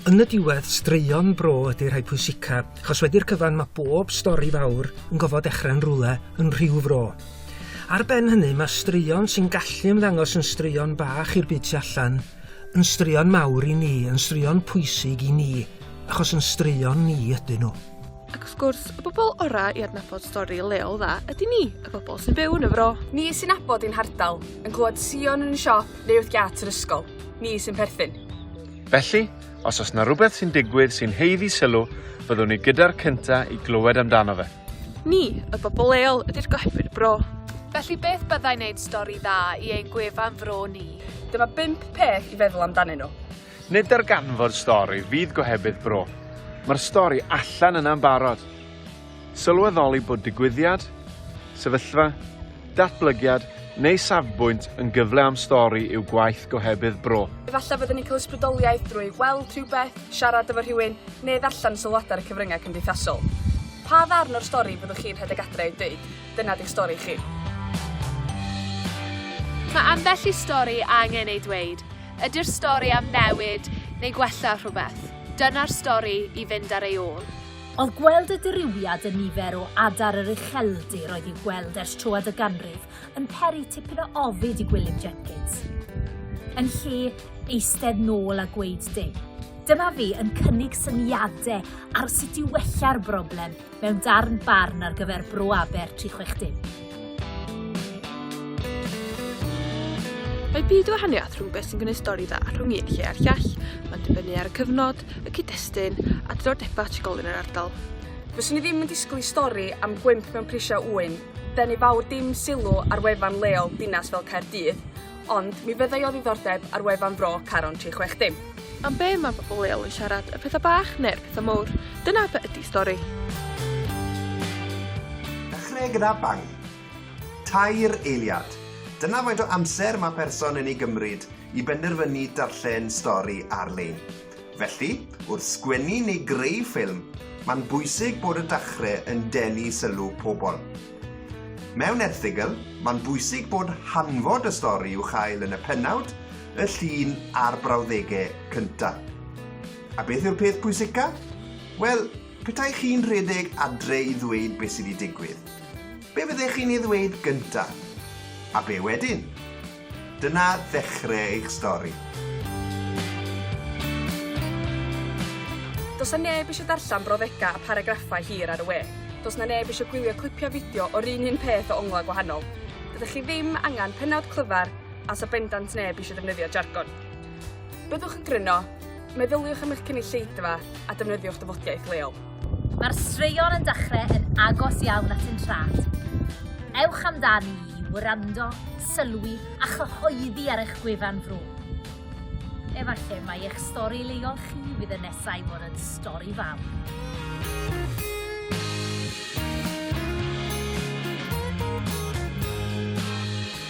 Yn y diwedd, straeon bro ydy rhai pwysica, achos wedi'r cyfan mae bob stori fawr yn gofod dechrau yn rwle, yn rhyw fro. Ar ben hynny, mae straeon sy'n gallu ymddangos yn straeon bach i'r byd tu allan, yn straeon mawr i ni, yn straeon pwysig i ni, achos yn straeon ni ydyn nhw. Ac wrth gwrs, y bobl orau i adnabod stori leol dda ydy ni, y bobl sy'n byw yn y fro. Ni sy'n nabod i'n hardal, yn clywed Sion yn y siop, Neu wrth giât yr ysgol. Ni sy'n perthyn. Felly, os oes 'na rhywbeth sy'n digwydd sy'n haeddu sylw, byddwn ni gyda'r cynta' i glywed amdano fe. Ni, y bobl leol, ydy'r gohebydd y bro. Felly beth byddai'n neud stori dda i ein gwefan fro ni? Dyma bump peth i feddwl amdanyn nhw. Nid darganfod stori fydd gohebydd bro, mae'r stori allan yna'n barod. Sylweddoli bod digwyddiad, sefyllfa, datblygiad neu safbwynt yn gyfle am stori yw gwaith gohebydd bro. Efallai fyddwn ni'n cael ysbrydoliaeth drwy weld rhywbeth, siarad efo rhywun, neu ddarllen sylwadau ar y cyfryngau cymdeithasol. Pa ddarn o'r stori fyddwch chi'n rhedeg adre i'w dweud? Dyna di'ch stori chi. Mae ambell i stori angen ei dweud. Ydy'r stori am newid neu gwella rhywbeth? Dyna'r stori i fynd ar ei ôl. Oedd gweld y dirywiad yn nifer o adar yr ucheldir oedd i'w gweld ers troad y ganrif yn peri tipyn o ofid i Gwilym Jenkins. Yn lle eistedd nôl a gweud dim, dyma fi yn cynnig syniadau ar sut i wella'r broblem mewn darn barn ar gyfer Bro Aber 360. Mae byd o wahaniaeth rhwng beth sy'n gwneud stori dda rhwng un lle a'r llall. Mae'n dibynnu ar y cyfnod, y cyd-destun a diddordebau trigolyn yr ardal. Fyswn i ddim yn disgwyl i stori am gwymp mewn prisiau ŵyn denu fawr dim sylw ar wefan leol dinas fel Caerdydd, Ond mi fyddai o ddiddordeb ar wefan Fro Caron 360. Am be mae pobl leol yn siarad, y pethau bach neu'r pethau mowr, dyna be ydy stori. Dechreu gyda bang. Tair eiliad. Dyna faint o amser mae person yn ei gymryd i benderfynu darllen stori ar-lein. Felly, wrth sgwennu neu greu ffilm, mae'n bwysig bod y dachre yn denu sylw pobl. Mewn erthygl, mae'n bwysig bod hanfod y stori i'w chael yn y pennawd, y llun a'r brawddegau cynta. A beth yw'r peth pwysica? Wel, petai chi'n rhedeg adre i ddweud beth sydd wedi digwydd, be fyddech chi'n ei ddweud gynta? A be wedyn? Dyna ddechre eich stori. Does 'na neb isio darllen brawddegau a paragraffau hir ar y we. Does 'na neb isio gwylio clipiau fideo o'r un un peth o onglau gwahanol. Dydych chi ddim angen pennawd clyfar a 'sa bendant neb isio defnyddio jargon. Byddwch yn gryno, Meddyliwch am eich cynulleidfa a defnyddiwch dyfodiaeth leol. Mae'r straeon yn dechrau yn agos iawn at un trad. Ewch amdani i wrando, sylwi a chyhoeddi ar eich gwefan fro. Efallai mai eich stori leol chi fydd y nesaf i fod yn stori fawr.